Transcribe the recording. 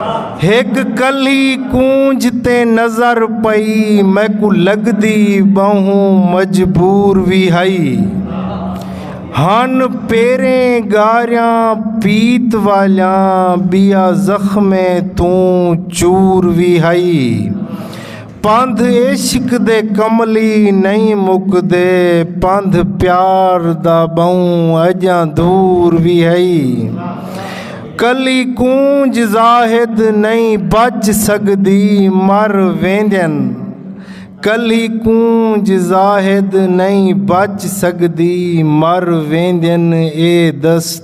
ہک کلھی کونج تے نظر پئی میکو لگدی بہوں مجبور وی ہئی ہن پیریں گاریاں پیت والیاں بیا زخمیں توں چور وی ہئی پندھ عشق دے کملی نئیں مکدے پندھ پیار دا ٻہوں اڄاں دور وی ہئی کلی کونج زاہد نئیں بچ سڳدی مر ویندن کلی کونج زاہد نئیں بچ سڳدی مر ویندن اے دست